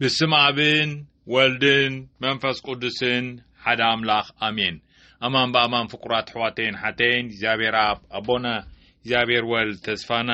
ብስም ኣብን ወልድን መንፈስ ቅዱስን ሓደ ኣምላኽ ኣሜን። ኣማን ብኣማን ፍቁራት ኣሕዋተይን ሓተይን እግዚኣብሔር ኣብ ኣቦና እግዚኣብሔር ወልድ ተስፋና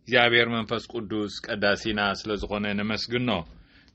እግዚኣብሔር መንፈስ ቅዱስ ቀዳሲና ስለ ዝኾነ ነመስግኖ።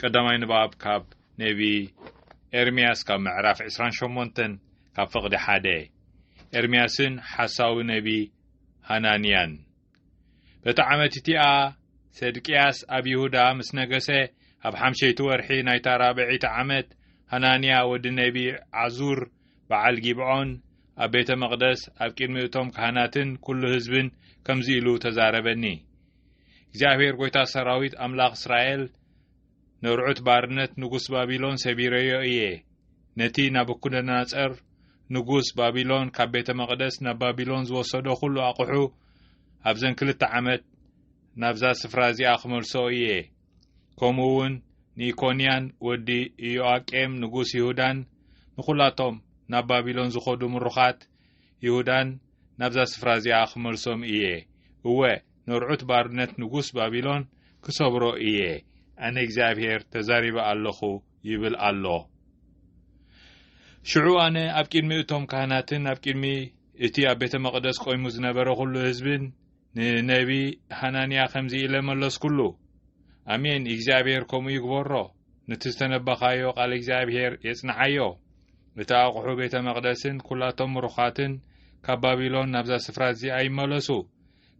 ቀዳማይ ንባብ ካብ ነቢ ኤርምያስ ካብ ምዕራፍ 28 ካብ ፍቕዲ ሓደ ኤርምያስን ሓሳዊ ነቢ ሃናንያን በቲ ዓመት እቲኣ ሰድቅያስ ኣብ ይሁዳ ምስ ነገሰ ኣብ ሓምሸይቲ ወርሒ ናይታ ራብዒቲ ዓመት ሃናንያ ወዲ ነቢ ዓዙር በዓል ጊብዖን ኣብ ቤተ መቕደስ ኣብ ቅድሚ እቶም ካህናትን ኩሉ ህዝብን ከምዚ ኢሉ ተዛረበኒ እግዚኣብሔር ጐይታ ሰራዊት ኣምላኽ እስራኤል ንርዑት ባርነት ንጉስ ባቢሎን ሰቢረዮ እየ። ነቲ ናቡኩደናጸር ንጉስ ባቢሎን ካብ ቤተ መቕደስ ናብ ባቢሎን ዝወሰዶ ኩሉ ኣቕሑ ኣብዘን ክልተ ዓመት ናብዛ ስፍራ እዚኣ ክመልሶ እየ። ከምኡ እውን ንኢኮንያን ወዲ ኢዮኣቄም ንጉስ ይሁዳን ንኹላቶም ናብ ባቢሎን ዝኸዱ ምሩኻት ይሁዳን ናብዛ ስፍራ እዚኣ ኽመልሶም እየ፣ እወ፣ ነርዑት ባርነት ንጉስ ባቢሎን ክሰብሮ እየ፣ ኣነ እግዚኣብሄር ተዛሪበ ኣለኹ ይብል ኣሎ። ሽዑ ኣነ ኣብ ቅድሚ እቶም ካህናትን ኣብ ቅድሚ እቲ ኣብ ቤተ መቕደስ ቆይሙ ዝነበረ ዅሉ ህዝብን ንነቢ ሃናንያ ኸምዚ ኢለ መለስኩሉ፣ ኣሜን፣ እግዚኣብሄር ከምኡ ይግበሮ። ነቲ ዝተነበኻዮ ቓል እግዚኣብሔር የጽንዓዮ። እቲ ኣቑሑ ቤተ መቕደስን ኵላቶም ምሩኻትን ካብ ባቢሎን ናብዛ ስፍራ እዚኣ ይመለሱ።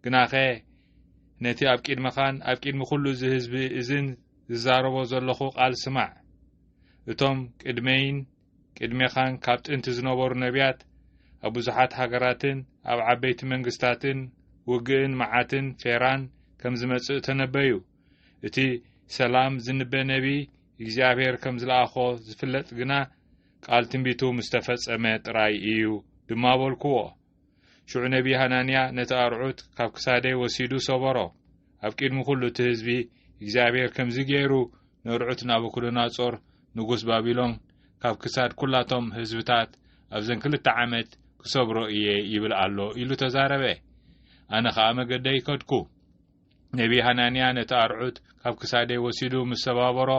ግናኸ ነቲ ኣብ ቂድመኻን ኣብ ቂድሚ ዅሉ እዚ ህዝቢ እዝን ዝዛረቦ ዘለኹ ቓል ስማዕ። እቶም ቅድመይን ቅድሜኻን ካብ ጥንቲ ዝነበሩ ነቢያት ኣብ ብዙሓት ሃገራትን ኣብ ዓበይቲ መንግስታትን ውግእን መዓትን ፌራን ከም ዝመጽእ ተነበዩ። እቲ ሰላም ዝንበ ነቢይ እግዚኣብሔር ከም ዝለኣኾ ዝፍለጥ ግና ቃል ትንቢቱ ምስ ተፈጸመ ጥራይ እዩ ድማ በልኩዎ። ሽዑ ነቢይ ሃናንያ ነቲ ኣርዑት ካብ ክሳደይ ወሲዱ ሰበሮ ኣብ ቅድሚ ኩሉ እቲ ህዝቢ እግዚኣብሔር ከምዚ ገይሩ ነርዑት ናቡኩዶናጾር ንጉስ ባቢሎን ካብ ክሳድ ኩላቶም ህዝብታት ኣብዘን ክልተ ዓመት ክሰብሮ እየ ይብል ኣሎ ኢሉ ተዛረበ ኣነ ኸኣ መገደይ ከድኩ ነቢ ሃናንያ ነቲ ኣርዑት ካብ ክሳደይ ወሲዱ ምስ ሰባበሮ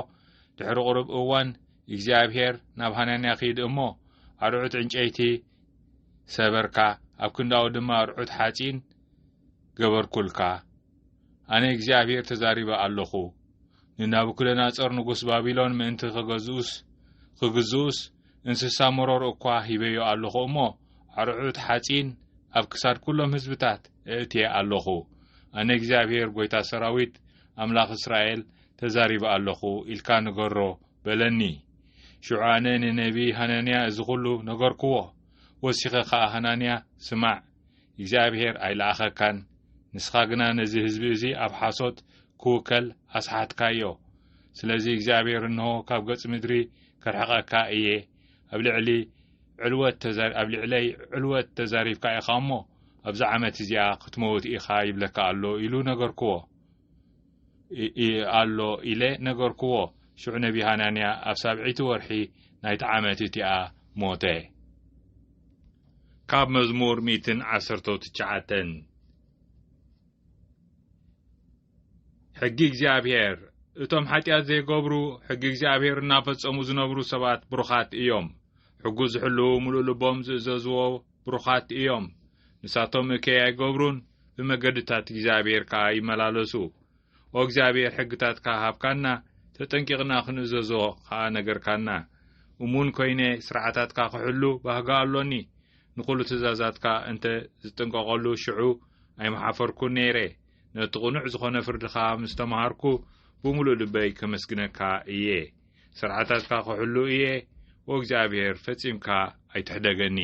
ድሕሪ ቕሩብ እዋን እግዚኣብሄር ናብ ሃናንያ ኺድ እሞ ኣርዑት ዕንጨይቲ ሰበርካ ኣብ ክንዳኡ ድማ ኣርዑት ሓጺን ገበርኩልካ ኣነ እግዚኣብሄር ተዛሪበ ኣለኹ ንናቡክደናጾር ንጉስ ባቢሎን ምእንቲ ኸገዝኡስ ኽግዝኡስ እንስሳ መሮር እኳ ሂበዮ ኣለኹ እሞ ኣርዑት ሓጺን ኣብ ክሳድ ኵሎም ህዝብታት እእትየ ኣሎኹ፣ ኣነ እግዚኣብሄር ጐይታ ሰራዊት፣ ኣምላኽ እስራኤል፣ ተዛሪበ ኣሎኹ ኢልካ ንገሮ፣ በለኒ። ሽዑ ኣነ ንነብዪ ሃናንያ እዚ ዅሉ ነገርክዎ። ወሲኸ ኸኣ ሃናንያ፣ ስማዕ፣ እግዚኣብሄር ኣይለኣኸካን፣ ንስኻ ግና ነዚ ህዝቢ እዚ ኣብ ሓሶት ኪውከል ኣስሓትካዮ። ስለዚ እግዚኣብሄር እንሆ ካብ ገጽ ምድሪ ከርሕቐካ እየ፣ ኣብ ልዕሊ ዕልወት ኣብ ልዕለይ ዕልወት ተዛሪብካ ኢኻ እሞ ኣብዛ ዓመት እዚኣ ክትመውት ኢኻ ይብለካ ኣሎ ኢሉ ነገርክዎ ኣሎ ኢለ ነገርክዎ ሽዑ ነቢ ሃናንያ ኣብ ሳብዒቲ ወርሒ ናይቲ ዓመት እቲኣ ሞተ ካብ መዝሙር ሚትን ዓሰርተው ትሽዓተን ሕጊ እግዚኣብሔር እቶም ሓጢኣት ዘይገብሩ ሕጊ እግዚኣብሔር እናፈጸሙ ዝነብሩ ሰባት ብሩኻት እዮም። ሕጉ ዝሕልዉ ምሉእ ልቦም ዝእዘዝዎ ብሩኻት እዮም። ንሳቶም እከይ ኣይገብሩን፣ ብመገድታት እግዚኣብሔር ከኣ ይመላለሱ። ኦ እግዚኣብሔር ሕግታትካ ሃብካና፣ ተጠንቂቕና ክንእዘዞ ኸኣ ነገርካና። እሙን ኮይነ ስርዓታትካ ክሕሉ ባህጋ ኣሎኒ። ንኹሉ ትእዛዛትካ እንተ ዝጥንቀቐሉ ሽዑ ኣይምሓፈርኩን ነይረ። ነቲ ቅኑዕ ዝኾነ ፍርድኻ ምስ ተምሃርኩ ብምሉእ ልበይ ከመስግነካ እየ ስርዓታትካ ክሕሉ እየ ወእግዚኣብሔር ፈጺምካ ኣይትሕደገኒ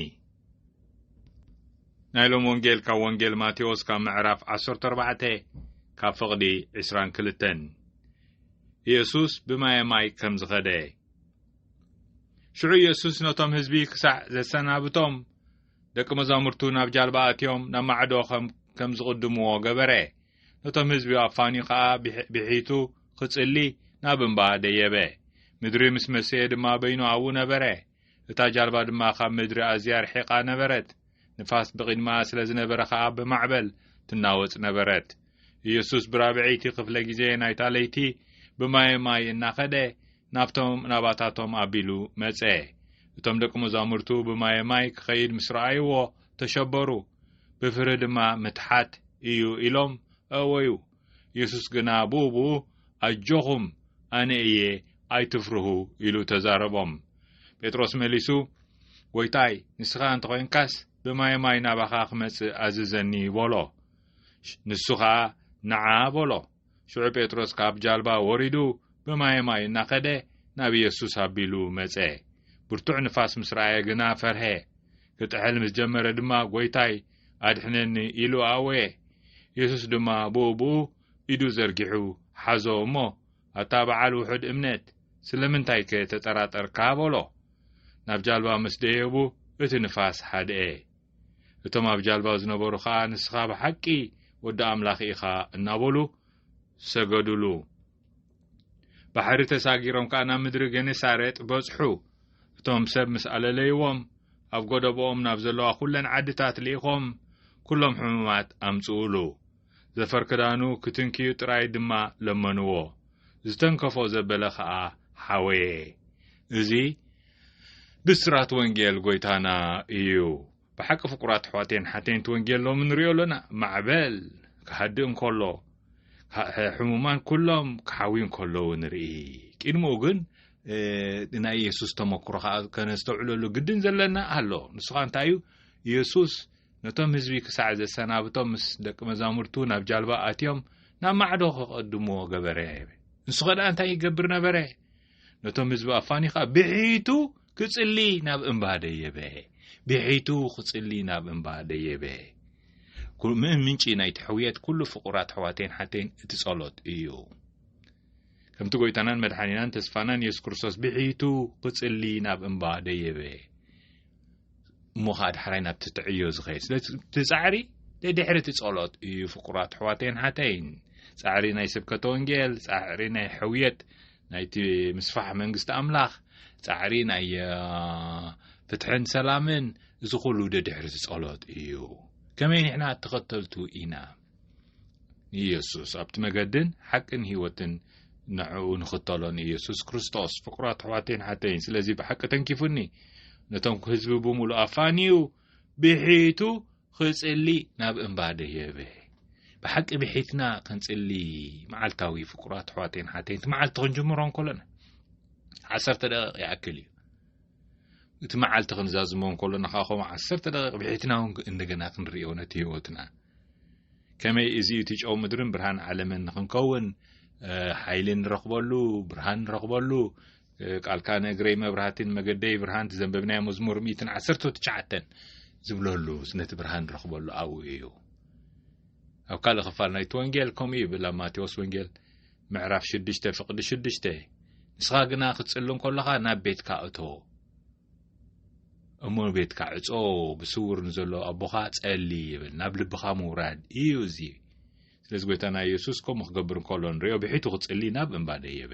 ናይ ሎም ወንጌል ካብ ወንጌል ማቴዎስ ካብ ምዕራፍ 14 ካብ ፍቕዲ 22 ኢየሱስ ብማየ ማይ ከም ዝኸደ ሽዑ ኢየሱስ ነቶም ህዝቢ ክሳዕ ዘሰናብቶም ደቂ መዛሙርቱ ናብ ጃልባ ኣትዮም ናብ ማዕዶ ኸም ከም ዝቕድምዎ ገበረ። ነቶም ህዝቢ ኣፋንዩ ኸኣ ብሒቱ ኽጽሊ ናብ እምባ ደየበ። ምድሪ ምስ መሰየ ድማ በይኑ ኣብኡ ነበረ። እታ ጃልባ ድማ ኻብ ምድሪ ኣዝያ ርሒቓ ነበረት፣ ንፋስ ብቕድሚኣ ስለ ዝነበረ ኸኣ ብማዕበል ትናወጽ ነበረት። ኢየሱስ ብራብዐይቲ ኽፍለ ጊዜ ናይታ ለይቲ ብማየ ማይ እናኸደ ናብቶም ናባታቶም ኣቢሉ መጸ። እቶም ደቂ መዛሙርቱ ብማየ ማይ ክኸይድ ምስ ረኣይዎ ተሸበሩ፣ ብፍርሂ ድማ ምትሓት እዩ ኢሎም ኣእወዩ። የሱስ ግና ብኡብኡ ኣጆኹም ኣነ እየ ኣይትፍርሁ ኢሉ ተዛረቦም። ጴጥሮስ መሊሱ ጎይታይ ንስኻ እንተ ኾይንካስ ብማየ ማይ ናባኻ ክመጽእ ኣዝዘኒ በሎ። ንሱ ኸኣ ንዓ በሎ። ሽዑ ጴጥሮስ ካብ ጃልባ ወሪዱ ብማየ ማይ እናኸደ ናብ ኢየሱስ ኣቢሉ መጸ። ብርቱዕ ንፋስ ምስ ረኣየ ግና ፈርሀ። ክጥሕል ምስ ጀመረ ድማ ጐይታይ ኣድሕነኒ ኢሉ ኣእወየ። ኢየሱስ ድማ ብኡ ብኡ ኢዱ ዘርጊሑ ሓዞ እሞ ኣታ በዓል ውሑድ እምነት ስለምንታይከ ተጠራጠርካ በሎ። ናብ ጃልባ ምስ ደየቡ እቲ ንፋስ ሀድኤ። እቶም ኣብ ጃልባ ዝነበሩ ኸኣ ንስኻ ብሓቂ ወዲ ኣምላኽ ኢኻ እናበሉ ሰገዱሉ። ባሕሪ ተሳጊሮም ከኣ ናብ ምድሪ ገኔሳሬጥ በጽሑ። እቶም ሰብ ምስ ኣለለይዎም ኣብ ጎደቦኦም ናብ ዘለዋ ኩለን ዓድታት ልኢኾም ኩሎም ሕሙማት ኣምጽኡሉ። ዘፈር ክዳኑ ክትንክዩ ጥራይ ድማ ለመንዎ። ዝተንከፎ ዘበለ ከኣ ሓወየ። እዚ ብስራት ወንጌል ጎይታና እዩ። ብሓቂ ፍቁራት ኣሕዋተይን ሓተይንት ወንጌል ሎሚ ንሪኦ ኣሎና ማዕበል ክሃድእ እንከሎ ሕሙማን ኩሎም ክሓውዩ እንከለዉ ንርኢ። ቂድምኡ ግን ናይ ኢየሱስ ተመክሮ ከኣ ከነስተውዕለሉ ግድን ዘለና ኣሎ። ንሱ ከኣ እንታይ እዩ? ኢየሱስ ነቶም ህዝቢ ክሳዕ ዘሰናብቶም ምስ ደቂ መዛሙርቱ ናብ ጃልባ ኣትዮም ናብ ማዕዶ ከቐድምዎ ገበረ። ንሱ ኸደኣ እንታይ ይገብር ነበረ? ነቶም ህዝቢ ኣፋኒ ኸኣ ብሒቱ ክጽሊ ናብ እምባ ደየበ ብሒቱ ክጽሊ ናብ እምባ ደየበ ምእን ምንጪ ናይቲ ሕውየት ኩሉ ፍቑራት ኣሕዋተይን ሓተይን እቲ ጸሎት እዩ ከምቲ ጎይታናን መድሓኒናን ተስፋናን የሱስ ክርስቶስ ብሒቱ ክጽሊ ናብ እምባ ደየበ እሞ ከዓ ዳሕራይ ናብ ትትዕዮ ዝኸይድ ስለዚ እቲ ፃዕሪ ድሕሪ እቲ ጸሎት እዩ ፍቁራት ኣሕዋተይን ሓተይን ፃዕሪ ናይ ስብከተ ወንጌል ፃዕሪ ናይ ሕውየት ናይቲ ምስፋሕ መንግስቲ ኣምላኽ ፃዕሪ ናይ ፍትሕን ሰላምን እዚ ኩሉ ደድሕርቲ ጸሎት እዩ ከመይ ንሕና ተኸተልቱ ኢና ንኢየሱስ ኣብቲ መገድን ሓቅን ህይወትን ንዕኡ ንኽተሎ ንኢየሱስ ክርስቶስ ፍቕራት ኣሕዋተይን ሓተይን ስለዚ ብሓቂ ተንኪፉኒ ነቶም ህዝቢ ብምሉእ ኣፋንዩ ብሒቱ ኽጽሊ ናብ እምባ ደየበ ብሓቂ ብሒትና ክንጽሊ መዓልታዊ ፍቅራት ኣሕዋተይን ሓተይን እቲ መዓልቲ ክንጅምሮ እንከሎና ዓሰርተ ደቂቕ ይኣክል እዩ እቲ መዓልቲ ክንዛዝሞ እንከሎና ከኣ ከምኡ ዓሰርተ ደቂቕ ብሒትና እውን እንደገና ክንርእዮ ነቲ ህይወትና ከመይ እዚ እቲ ጨው ምድርን ብርሃን ዓለምን ንክንከውን ሓይሊ ንረኽበሉ ብርሃን ንረኽበሉ ቃልካ ነግረይ መብራህትን መገደይ ብርሃን ዘንበብናዮ መዝሙር ሚትን ዓሰርተ ትሽዓተን ዝብለሉ ነቲ ብርሃን ንረኽበሉ ኣብኡ እዩ ኣብ ካልእ ክፋል ናይቲ ወንጌል ከምኡ ይብል ኣብ ማቴዎስ ወንጌል ምዕራፍ ሽዱሽተ ፍቅዲ ሽዱሽተ ንስኻ ግና ክትጽሊ እንከሎኻ ናብ ቤትካ እቶ እሞ ቤትካ ዕጾ ብስውር ንዘሎ ኣቦኻ ጸሊ ይብል ናብ ልብኻ ምውራድ እዩ እዚ ስለዚ ጎይታና የሱስ ከምኡ ክገብር እንከሎ ንሪኦ ብሒቱ ክጽሊ ናብ እምባ ደየበ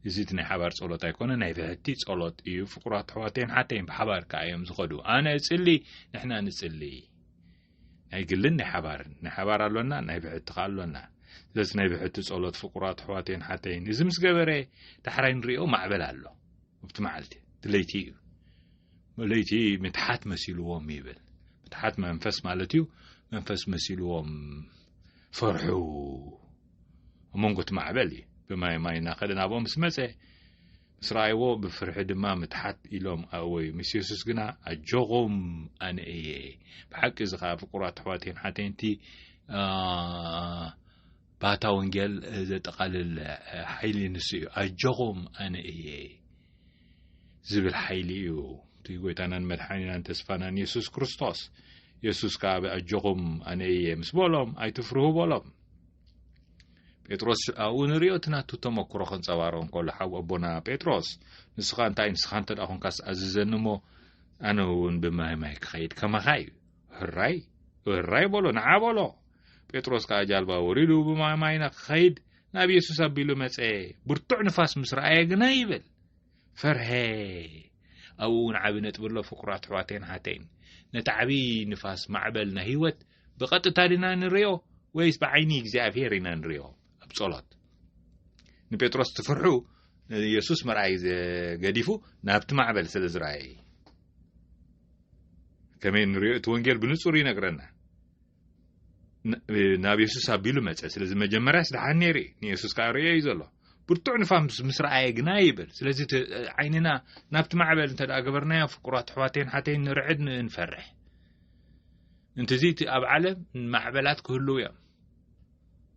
እዚ እቲ ናይ ሓባር ጸሎት ኣይኮነ ናይ ብሕቲ ጸሎት እዩ ፍቁራት ኣሕዋተይን ሓተይን ብሓባር ከኣ እዮም ዝኸዱ ኣነ እጽሊ ንሕና ንጽሊ ናይ ግልን ናይ ሓባርን ናይ ሓባር ኣሎና ናይ ብሕቲ ከ ኣሎና ስለዚ ናይ ብሕቲ ጸሎት ፍቁራት ኣሕዋተይን ሓተይን እዚ ምስ ገበረ ዳሕራይ ንሪኦ ማዕበል ኣሎ ኣብቲ መዓልቲ እቲ ለይቲ እዩ ለይቲ ምትሓት መሲልዎም ይብል ምትሓት መንፈስ ማለት እዩ መንፈስ መሲልዎም ፈርሑ ኣብ መንጎ እቲ ማዕበል እዩ ብማይ ማይ እናኸደ ናብኦም ምስ መፀ ምስ ረኣይዎ ብፍርሒ ድማ ምትሓት ኢሎም ኣእወዩ። ምስ የሱስ ግና ኣጆኹም ኣነ እየ። ብሓቂ እዚ ኸኣ ፍቁራት ኣሕዋቴን ሓተንቲ ባታ ወንጌል ዘጠቓልል ሓይሊ ንሱ እዩ። ኣጆኹም ኣነ እየ ዝብል ሓይሊ እዩ። እቲ ጎይታናን መድሓኒናን ተስፋናን የሱስ ክርስቶስ የሱስ ከኣ ብኣጆኹም ኣነ እየ ምስ በሎም ኣይትፍርሁ በሎም ጴጥሮስ ኣብኡ ንሪኦ እቲ ናቱ ተመክሮ ከንጸባርቕ እንከሎ ሓው ኣቦና ጴጥሮስ ንስኻ እንታይ ንስኻ እንተ ኮንካስ ኣዝዘኒ እሞ ኣነ እውን ብማይ ማይ ክኸይድ ከማኻ እዩ ህራይ ህራይ በሎ ንዓ በሎ ጴጥሮስ ከዓ ጃልባ ወሪዱ ብማይ ማይ ንክኸይድ ናብ የሱስ ኣቢሉ መጸ ብርቱዕ ንፋስ ምስ ረኣየ ግና ይብል ፈርሀ ኣብኡ እውን ዓብዪ ነጥቢ ኣሎ ፍቁራት ኣሕዋተይን ሓተይን ነቲ ዓብዪ ንፋስ ማዕበል ናይ ህይወት ብቐጥታ ድና ንሪኦ ወይስ ብዓይኒ እግዚኣብሄር ኢና ንሪኦ ኣብ ጸሎት ንጴጥሮስ ትፍርሑ ንየሱስ መርኣይ ገዲፉ ናብቲ ማዕበል ስለ ዝረኣየ እዩ ከመይ ንሪኦ እቲ ወንጌል ብንጹር ይነግረና ናብ የሱስ ኣቢሉ መፀ ስለዚ መጀመርያስ ድሓን ነይሩ እዩ ንየሱስ ከዓ ርእዮ እዩ ዘሎ ብርቱዕ ንፋምስ ምስ ረኣየ ግና ይብል ስለዚ ዓይንና ናብቲ ማዕበል እንተ ገበርናዮ ፍቁራት ኣሕዋተይን ሓተይን ንርዕድ ንፈርሕ እንትዚ እቲ ኣብ ዓለም ማዕበላት ክህልው እዮም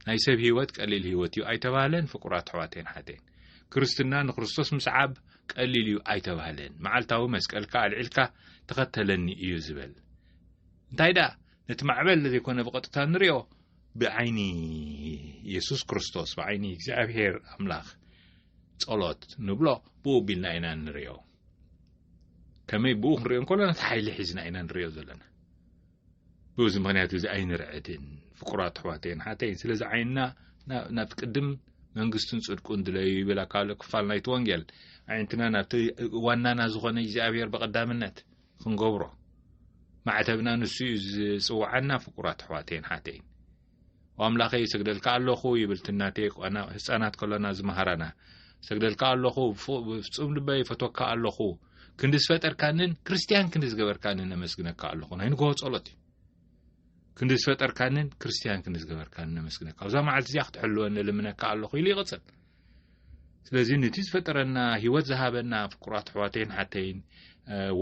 ናይ ሰብ ህይወት ቀሊል ህይወት እዩ ኣይተባህለን ፍቁራት ኣሕዋተይን ሓተይን ክርስትና ንክርስቶስ ምስዓብ ቀሊል እዩ ኣይተባህለን መዓልታዊ መስቀልካ ኣልዒልካ ተኸተለኒ እዩ ዝበል እንታይ ደኣ ነቲ ማዕበል ዘይኮነ ብቐጥታ ንሪኦ ብዓይኒ የሱስ ክርስቶስ ብዓይኒ እግዚኣብሄር ኣምላኽ ጸሎት ንብሎ ብኡ ቢልና ኢና ንሪኦ ከመይ ብኡ ክንሪኦ እንከሎና እቲ ሓይሊ ሒዝና ኢና ንሪኦ ዘለና ብዚ ምክንያት እዚ ኣይንርዕድን ፍቁራት ኣሕዋተይን ሓተይን ስለዚ ዓይንና ናብቲ ቅድም መንግስቱን ጽድቁን ድለዩ ይብል ኣካሎ ክፋል ናይቲ ወንጌል ኣዒንትና ናብቲ ዋናና ዝኾነ እግዚኣብሔር ብቐዳምነት ክንገብሮ ማዕተብና ንሱ እዩ ዝጽውዓና ፍቁራት ኣሕዋተይን ሓተይን ኣምላኸይ ሰግደልካ ኣለኹ ይብል ትናቴ ቋና ህፃናት ከሎና ዝመሃራና ሰግደልካ ኣለኹ ብፍፁም ልበይ ፈቶካ ኣለኹ ክንዲ ዝፈጠርካንን ክርስትያን ክንዲ ዝገበርካንን ኣመስግነካ ኣለኹ ናይ ንግሆ ጸሎት እዩ ክንዲ ዝፈጠርካንን ክርስትያን ክንዲ ዝገበርካንን ኣመስግነካ ኣብዛ መዓልቲ እዚኣ ክትሕልወኒ ልምነካ ኣለኹ ኢሉ ይቕፅል ስለዚ ነቲ ዝፈጠረና ህይወት ዝሃበና ፍቁራት ኣሕዋተይን ሓተይን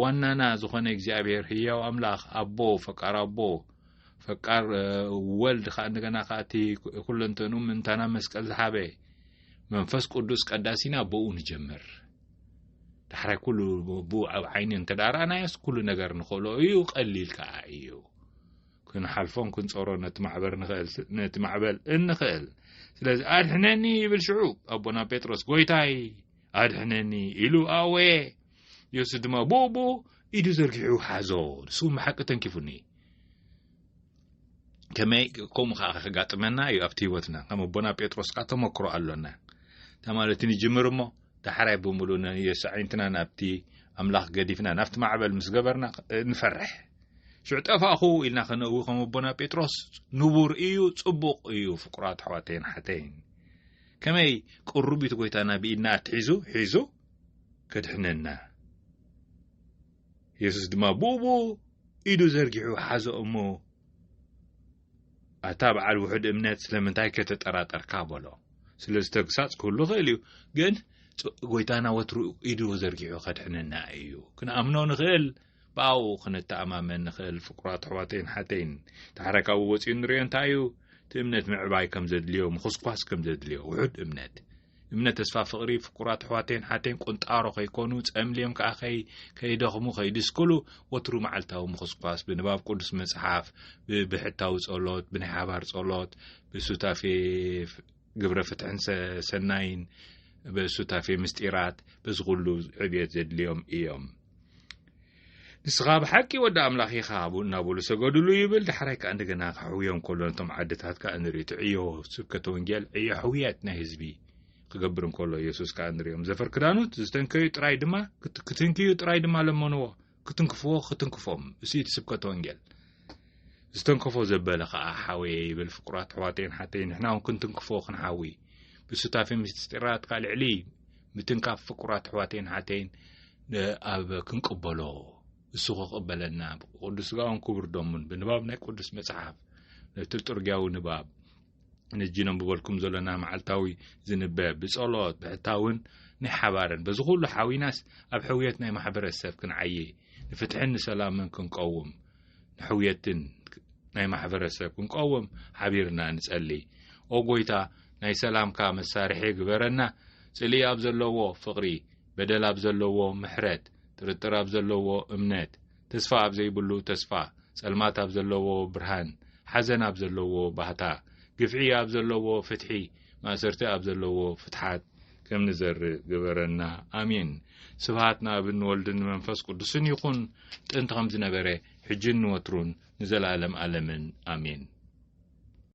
ዋናና ዝኾነ እግዚኣብሔር ህያው ኣምላኽ ኣቦ ፈቃር ኣቦ ፈቃር ወልድ ከዓ እንደገና ከዓ እቲ ኩለንተኑ ምንታና መስቀል ዝሓበ መንፈስ ቅዱስ ቀዳሲና ብኡ ንጀምር ዳሕራይ ኩሉ ብኡ ኣብ ዓይኒ እንተዳራእናዮስ ኩሉ ነገር ንኽእሎ እዩ ቀሊል ከዓ እዩ ክንሓልፎን ክንጸሮ ነቲ ማዕበር ንኽእል ነቲ ማዕበል እንኽእል ስለዚ ኣድሕነኒ ይብል ሽዑ ኣቦና ጴጥሮስ ጐይታይ ኣድሕነኒ ኢሉ ኣወየ የሱስ ድማ ብኡቡ ኢዱ ዘርጊሑ ሓዞ ንሱ ብሓቂ ተንኪፉኒ ከመይ ከምኡ ከዓ ከጋጥመና እዩ ኣብቲ ህይወትና ከም ኣቦና ጴጥሮስ ከዓ ተመክሮ ኣሎና ተማለቲ ንጅምር እሞ ዳሕራይ ብምሉ ንየሳዒንትና ናብቲ ኣምላኽ ገዲፍና ናብቲ ማዕበል ምስ ገበርና ንፈርሕ ሽዑ ጠፋእኹ ኢልና ከነእዊ ከም ኣቦና ጴጥሮስ ንቡር እዩ ጽቡቕ እዩ ፍቁራት ኣሕዋተይን ሓተይን ከመይ ቅሩቢት ጎይታና ብኢድና ኣትሒዙ ሒዙ ከድሕነና የሱስ ድማ ብኡብኡ ኢዱ ዘርጊሑ ሓዞ እሞ ኣታ በዓል ውሑድ እምነት ስለምንታይ ከተጠራጠርካ በሎ ስለዚ ተግሳጽ ክህሉ ይኽእል እዩ ግን ጎይታና ወትሩ ኢዱ ዘርጊሑ ከድሕነና እዩ ክንኣምኖ ንኽእል ብኣኡ ክንተኣማመን ንኽእል ፍቅራት ኣሕዋተይን ሓተይን ታሕረካዊ ወፂኡ ንሪኦ እንታይ እዩ እቲ እምነት ምዕባይ ከም ዘድልዮ ምኹስኳስ ከም ዘድልዮ ውሑድ እምነት እምነ ተስፋ ፍቅሪ ፍቁራት ኣሕዋተይን ሓተይን ቁንጣሮ ከይኮኑ ጸምልዮም ከኣ ከይ ከይደኽሙ ከይድስክሉ ወትሩ መዓልታዊ ምኹስኳስ ብንባብ ቅዱስ መጽሓፍ ብብሕታዊ ጸሎት ብናይ ሓባር ጸሎት ብሱታፌ ግብረ ፍትሕን ሰናይን ብሱታፌ ምስጢራት በዚ ኩሉ ዕብየት ዘድልዮም እዮም ንስኻ ብ ሓቂ ወዲ ኣምላኽ ኢኻ እናበሉ ሰገዱሉ ይብል ዳሕራይ ከኣ እንደገና ክሕውዮም ከሎ ነቶም ዓድታት ከኣ ንርኢ እቲ ዕዮ ስብከተ ወንጌል ዕዮ ሕውየት ናይ ህዝቢ ክገብር እንከሎ የሱስ ከኣ ንሪኦም ዘፈር ክዳኑት ዝተንከዩ ጥራይ ድማ ክትንክዩ ጥራይ ድማ ለመንዎ ክትንክፍዎ ክትንክፎም እሱ እቲ ስብከተ ወንጌል ዝተንከፎ ዘበለ ከኣ ሓወየ ይብል ፍቁራት ኣሕዋተይን ሓተይ ንሕና እውን ክንትንክፎ ክንሓዊ ብሱታፊ ምስጢራትካ ልዕሊ ምትንካፍ ፍቁራት ኣሕዋተይን ሓተይን ኣብ ክንቅበሎ እሱ ክቕበለና ቅዱስ ስጋውን ክቡር ደሙን ብንባብ ናይ ቅዱስ መጽሓፍ ነቲ ጥርጊያዊ ንባብ ነጂ ነንብበልኩም ዘለና መዓልታዊ ዝንበ ብጸሎት ብሕታውን ናይ ሓባርን በዚ ኩሉ ሓዊናስ ኣብ ሕውየት ናይ ማሕበረሰብ ክንዓይ ንፍትሕን ንሰላምን ክንቀውም ንሕውየትን ናይ ማሕበረሰብ ክንቀውም ሓቢርና ንጸሊ ኦ ጎይታ ናይ ሰላምካ መሳርሒ ግበረና ጽልኢ ኣብ ዘለዎ ፍቕሪ በደል ኣብ ዘለዎ ምሕረት ጥርጥር ኣብ ዘለዎ እምነት ተስፋ ኣብ ዘይብሉ ተስፋ ጸልማት ኣብ ዘለዎ ብርሃን ሓዘን ኣብ ዘለዎ ባህታ ግፍዒ ኣብ ዘለዎ ፍትሒ ማእሰርቲ ኣብ ዘለዎ ፍትሓት ከም ንዘርእ ግበረና ኣሜን። ስብሃት ንኣብን ንወልድን ንመንፈስ ቅዱስን ይኹን ጥንቲ ከም ዝነበረ ሕጅን ንወትሩን ንዘለኣለም ኣለምን ኣሜን።